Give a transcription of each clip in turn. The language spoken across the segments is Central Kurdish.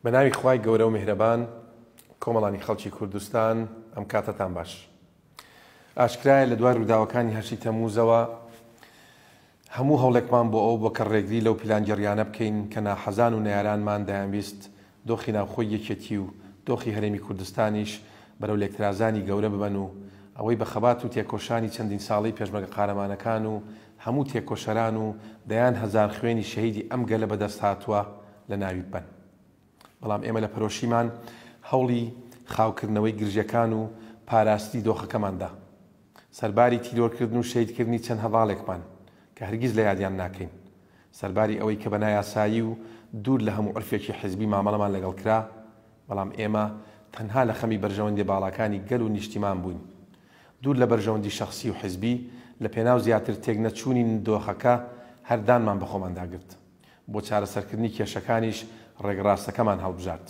بە ناوی خوای گەورە و میهرەبان کۆمەڵانی خەڵکی کوردستان ئەم کاتەتان باش ئاشکرایە لە دوای ڕووداوەکانی هەشتی تەموزەوە هەموو هەوڵێکمان بۆ ئەو بۆ کە ڕێگری لەو پیلانگەڕیانە بکەین کە ناحەزان و نارانمان دایانویست دۆخی ناوخۆی یەکێتی و دۆخی هەرێمی کوردستانیش بەرەو لێکترازانی گەورە ببەن و ئەوەی بە خەبات و تێکۆشانی چەندین ساڵەی پێشمەرگە قارەمانەکان و هەموو تێکۆشەران و دەیان هەزار خوێنی شەهیدی ئەم گەلە بەدەست هاتووە لە ناوی ببەن. بەڵام ئێمە لە پەرۆشیمان هەوڵی خاوکردنەوەی گرژیەکان و پاراستنی دۆخەکەمان دا. سەرباری تیرۆرکردن و شەهیدکردنی چەند هەڤاڵێکمان کە هەرگیز لە یادیان ناکەین، سەرباری ئەوەی کە بە نایاسایی و دوور لە هەموو عورفێکی حیزبی مامەڵەمان لەگەڵ کرا، بەڵام ئێمە تەنها لە خەمی بەرژەوەندیە باڵاکانی گەل و نیشتیمان بووین، دوور لە بەرژەوەندی شەخسی و حیزبی، لە پێناو زیاتر تێک نەچوونی دۆخەکە هەر دانمان بە خۆماندا گرت. بۆ چارەسەرکردنی کێشەکانیش ڕێگەڕاستەکەمان هەڵبژارد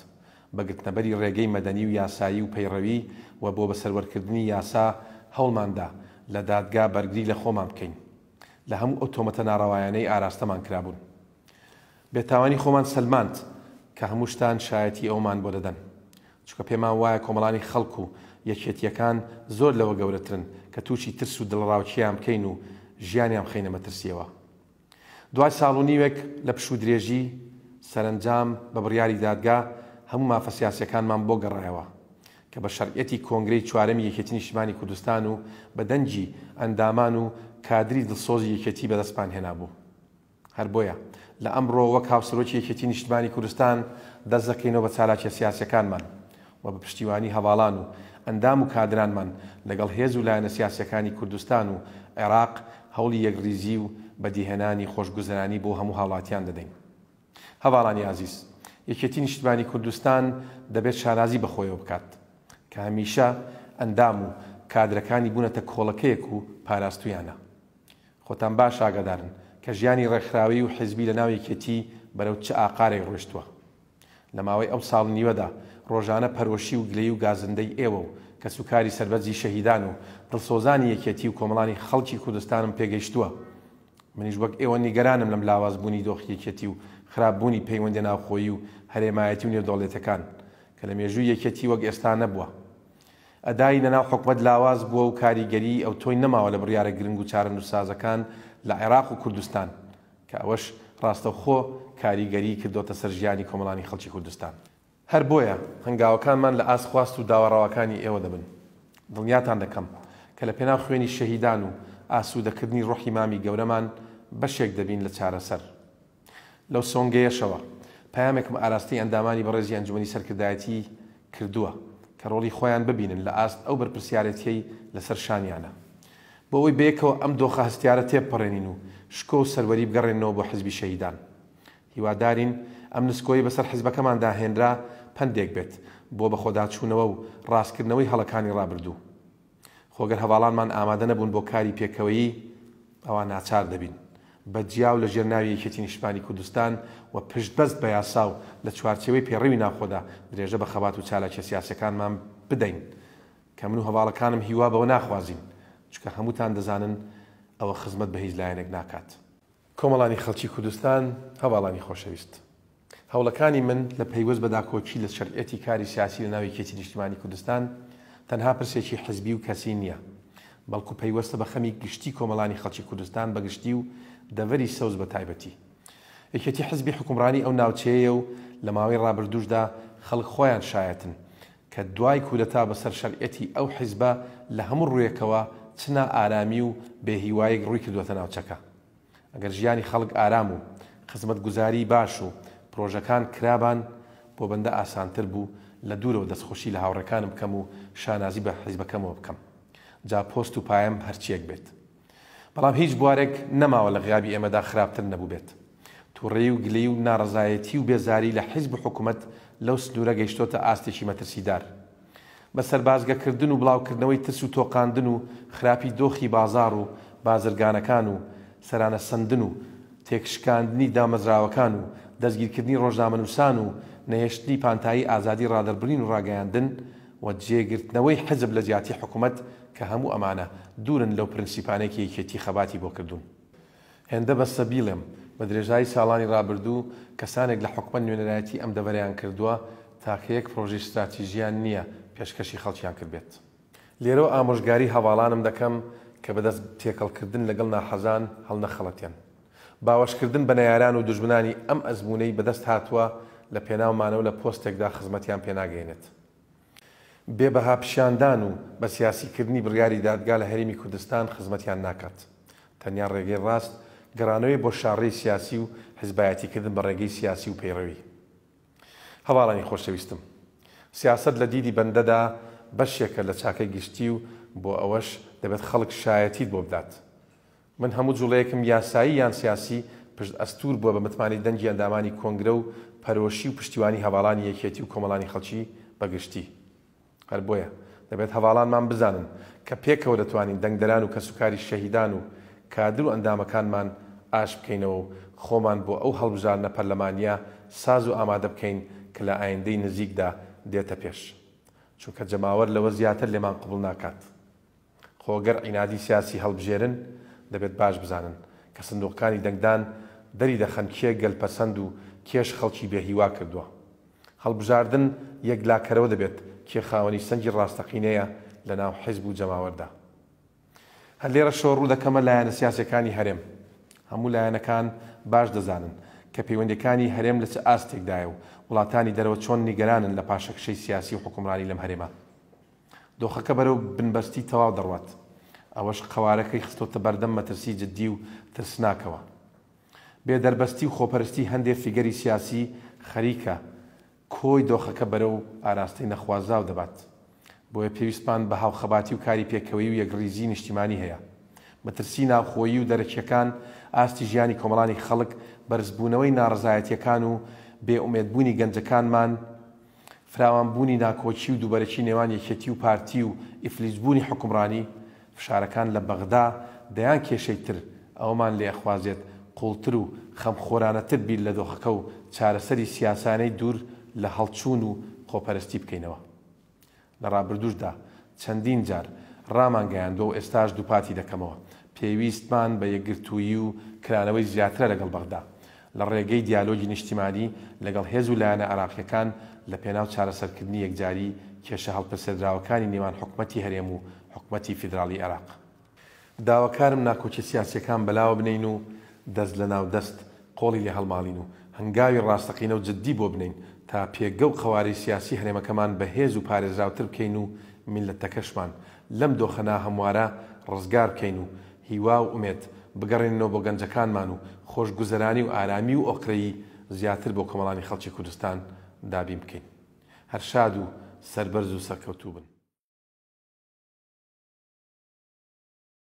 بە گرتنەبەری ڕێگەی مەدەنی و یاسایی و پەیڕەوی و بۆ بەسەروەرکردنی یاسا هەوڵماندا لە دادگا بەرگری لە خۆمان بکەین لە هەموو ئەو تۆمەتە ناڕەوایانەی ئاراستەمان کرابوون. بێتاوانی خۆمان سەلماند کە هەموو شتان شایەتی ئەوەمان بۆ دەدەن چونکە پێمان وایە کۆمەڵانی خەڵک و یەکێتییەکان زۆر لەوە گەورەترن کە تووشی ترس و دڵەڕاوکێیان بکەین و ژیانیان بخەینە مەترسییەوە. دوای ساڵ و نیوێک لە پشوودرێژی، سەرەنجام بە بڕیاری دادگا هەموو مافە سیاسییەکانمان بۆ گەڕایەوە، کە بە شەرعیەتی کۆنگرەی چوارەمی یەکێتی نیشتیمانی کوردستان و بە دەنگی ئەندامان و کادری دڵسۆزی یەکێتی بەدەستمان هێنابوو. هەر بۆیە لە ئەمڕۆ وەک هاوسەرۆکی یەکێتی نیشتمانی کوردستان دەست دەکەینەوە بە چالاکیە سیاسیەکانمان و بە پشتیوانی هەڤاڵان و ئەندام و کادرانمان لەگەڵ هێز و لایەنە سیاسییەکانی کوردستان و عێراق هەوڵی یەکڕیزی و بەدیهێنانی خۆشگوزەرانی بۆ هەموو هاوڵاتیان دەدەین. هەڤاڵانی ئازیز، یەکێتی نیشتمانی کوردستان دەبێت شانازی بە خۆیەوە بکات کە هەمیشە ئەندام و کادرەکانی بوونەتە کۆڵەکەیەک و پاراستوویانە. خۆتان باش ئاگادارن کە ژیانی ڕێکخراوەیی و حیزبی لەناو یەکێتی بەرەو چ ئاقارێک ڕۆیشتووە. لە ماوەی ئەو ساڵ و نیوەدا ڕۆژانە پەرۆشی و گلەیی و گازندەی ئێوە و کەس و کاری سەربەرزی شەهیدان و دڵسۆزانی یەکێتی و کۆمەڵانی خەڵکی کوردستانم پێ گەیشتووە. منیش وەک ئێوە نیگەرانم لەم لاواز بوونی دۆخی یەکێتی و خراپ بوونی پەیوەندیە ناوخۆیی و هەرێمایەتی و نێودەوڵێتەکان کە لە مێژووی یەکێتی وەک ئێستا نەبووە. ئەدای لەناو حکومەت لاواز بووە و کاریگەریی ئەوتۆی نەماوە لە بڕیارە گرنگ و چارەنووسسازەکان لە عێراق و کوردستان. کە ئەوەش ڕاستەوخۆ کاریگەریی کردۆتە سەر ژیانی کۆمەڵانی خەڵکی کوردستان. هەر بۆیە هەنگاوەکانمان لە ئاست خواست و داوا ڕەواکانی ئێوە دەبن. دڵنیاتان دەکەم کە لە پێناو خوێنی شەهیدان و ئاسوودەکردنی ڕۆحی مامی گەورەمان بەشێک دەبین لە چارەسەر. لەو سۆنگەیەشەوە پەیامێکم ئاراستەی ئەندامانی بەڕێزی ئەنجومەنی سەرکردایەتیی کردووە کە ڕۆڵی خۆیان ببینن لە ئاست ئەو بەرپرسیارێتییەی لەسەر شانیانە بۆ ئەوەی بەیەکەوە ئەم دۆخە هەستیارە تێبپەڕێنین و شکۆ و سەروەری بگەڕێننەوە بۆ حزبی شەهیدان هیوادارین ئەم نسکۆیەی بەسەر حزبەکەماندا هێنرا پەندێک بێت بۆ بەخۆداچوونەوە و ڕاستکردنەوەی هەڵەکانی ڕابردوو. خۆ گەر هەڤاڵانمان ئامادە نەبوون بۆ کاری پێکەوەیی، ئەوا ناچار دەبین بە جیا و لە ژێر ناوی یەکێتی نیشتمانی کوردستان و پشت بەست بە یاسا و لە چوارچێوەی پێڕەوی ناوخۆدا درێژە بە خەبات و چالاکیە سیاسیەکانمان بدەین کە من و هەڤاڵەکانم هیوا بەوە ناخوازین چونکە هەمووتان دەزانن ئەوە خزمەت بە هیچ لایەنێک ناکات. کۆمەڵانی خەڵکی کوردستان، هەڤاڵانی خۆشەویست. هەوڵەکانی من لە پەیوەست بە داکۆکی لە شەرعیەتی کاری سیاسی لە ناو یەکێتی نیشتیمانی کوردستان، تەنها پرسێکی حزبی و کەسی نیە، بەڵکو پەیوەستە بە خەمی گشتی کۆمەڵانی خەڵکی کوردستان بە گشتی و دەڤەری سەوز بە تایبەتی. یەکێتی حزبی حوکمڕانی ئەو ناوچەیەیە و لە ماوەی ڕابردووشدا خەڵک خۆیان شایەتن کە دوای کودەتا بەسەر شەرعیەتی ئەو حیزبە لە هەموو ڕوویەکەوە چ نا ئارامی و بێ هیوایەک ڕووی کردوەتە ناوچەکە. ئەگەر ژیانی خەڵک ئارام و خزمەت گوزاری باش و پرۆژەکان کرابان بۆ بەندە ئاسانتر بوو لە دوورەوە دەست خوشی لە هاوڕێکانم بکەم و شانازی بە حیزبەکەمەوە بکەم جا پۆست و پایەم هەرچیەک بێت. بەڵام هیچ بوارێک نەماوە لە غیابی ئێمەدا خراپتر نەبووبێت. توڕەیی و گلەیی و ناڕەزایەتی و بێزاری لە حیزب و حکومەت لەو سنوورە گەیشتۆتە ئاستێکی مەترسیدار. بە سەربازگەکردن و بڵاوکردنەوەی ترس و تۆقاندن و خراپی دۆخی بازاڕ و بازرگانەکان و سەرانەسەندن و تێکشکاندنی دامەزراوەکان و دەستگیرکردنی ڕۆژنامەنووسان و نەهێشتنی پانتایی ئازادی ڕادەربڕین و ڕاگەیاندن و جێگرتنەوەی حزب لە جیاتی حکومەت کە هەموو ئەمانە دوورن لەو پرنسیپانەی کە یەکێتی خەباتی بۆ کردوون. هێندە بەسە بیڵێم، بە درێژایی ساڵانی رابردوو کەسانێک لە حکومەت نوێنەرایەتی ئەم دەڤەرەیان کردووە تاکە یەک پرۆژەی ستراتیژیان نییە پێشکەشی خەڵکیان کردبێت. لێرەوە ئامۆژگاری هەڤاڵانم دەکەم کە بەدەست تێکەڵکردن لەگەڵ ناحەزان هەڵنەخەڵەتێن. باوەشکردن بە نەیاران و دوژمنانی ئەم ئەزموونەی بەدەست هاتووە لە پێناو مانەوە لە پۆستێکدا خزمەتیان پێ ناگەینێت. بێ بەها پیشاندان و بە سیاسی کردنی بڕیاری دادگا لە هەرێمی کوردستان خزمەتیان ناکات. تەنیا ڕێگەی ڕاست گەڕانەوەی بۆ شاڕێی سیاسی و حزبایەتی کردن بە ڕێگەی سیاسی و پەیڕەوی. هەڤاڵانی خۆشەویستم! سیاسەت لە دیدی بەندەدا بەشێکە لە چاکەی گشتی و بۆ ئەوەش دەبێت خەڵک شایەتیت بۆ بدات. من هەموو جوڵەیەکم یاسایی یان سیاسی پشت ئەستوور بووە بە متمانەی دەنگی ئەندامانی کۆنگرە و پەرۆشی و پشتیوانی هەڤاڵانی یەکێتی و کۆمەڵانی خەڵکی بە گشتی. هەر بۆیە دەبێت هەڤاڵانمان بزانن کە پێکەوە دەتوانین دەنگدەران و کەسوکاری شەهیدان و کادر و ئەندامەکانمان ئاش بکەینەوە و خۆمان بۆ ئەو هەڵبژاردنە پەرلەمانییە ساز و ئامادە بکەین کە لە ئایندەی نزیکدا دێتە پێش. چونکە جەماوەر لەوە زیاتر لێمان قبوڵ ناکات. خۆ گەر عینادی سیاسی هەڵبژێرن دەبێت باش بزانن کە سندوقەکانی دەنگدان دەری دەخەن کێ گەل پەسەند و کێش خەڵکی بێ هیوا کردوە. هەڵبژاردن یەکلاکەرەوە دەبێت کێ خاوەنی سەنگی ڕاستەقینەیە لە ناو حیزب و جەماوەردا. هەر لێرەشەوە ڕوو دەکەمە لایەنە سیاسیەکانی هەرێم. هەموو لایەنەکان باش دەزانن کە پەیوەندیەکانی هەرێم لە چ ئاستێکدایە و وڵاتانی دەرەوە چۆن نیگەرانن لە پاشەکشەی سیاسی و حوکمڕانی لەم هەرێمە. دۆخەکە بەرەو بنبەستی تەواو دەڕوات، ئەوەش قەوارەکەی خستۆتە بەردەم مەترسی جددی و ترسناکەوە. بێ دەربەستی و خۆپەرستی هەندێ فیگەری سیاسی خەریکە کۆی دۆخەکە بەرەو ئاراستەی نەخوازراو دەبات. بۆیە پێویستمان بە هاوخەباتی و کاری پێکەوەیی و یەکڕیزی نیشتیمانی هەیە. مەترسی ناوخۆیی و دەرەکیەکان ئاستی ژیانی کۆمەڵانی خەڵک، بەرزبوونەوەی ناڕەزایەتیەکان و بێ ئومێدبوونی گەنجەکانمان، فراوانبوونی ناکۆکی و دووبەرەکی نێوان یەکێتی و پارتی و ئیفلیجبوونی حوکمڕانی، فشارەکان لە بەغدا دەیان کێشەی تر ئەوەمان لێ ئەخوازێت قووڵتر و خەمخۆرانەتر بیر لە دۆخەکە و چارەسەری سیاسانەی دوور لە هەڵچوون و خۆپەرستی بکەینەوە. لە ڕابردووشدا چەندین جار ڕامانگەیاندووە و ئێستاش دووپاتی دەکەمەوە، پێویستمان بە یەکگرتوویی و کرانەوەی زیاترە لەگەڵ بەغدا، لە ڕێگەی دیالۆگی نیشتیمانی لەگەڵ هێز و لایەنە عێراقییەکان لەپێناو چارەسەرکردنی یەکجاری کێشە هەڵپەسێردراوەکانی نێوان حکومەتی هەرێم و حکومەتی فیدراڵیی عێراق. داواکارم ناکۆکیە سیاسیەکان بەلاوە بنێین و دەست لەناو دەست قۆڵی لێ هەڵماڵین و هەنگاوی ڕاستەقینە و جدی بۆ بنێین تا پێگە و قەوارەی سیاسی هەرێمەکەمان بەهێز و پارێزراوتر بکەین و میللەتەکەشمان لەم دۆخە ناهەموارە ڕزگار بکەین و هیوا و ئومێد بگەڕێنینەوە بۆ گەنجەکانمان و خۆشگوزەرانی و ئارامی و ئۆقرەیی زیاتر بۆ کۆمەڵانی خەڵکی کوردستان دابین بکەین. هەر شاد و سەربەرز و سەرکەوتوو بن.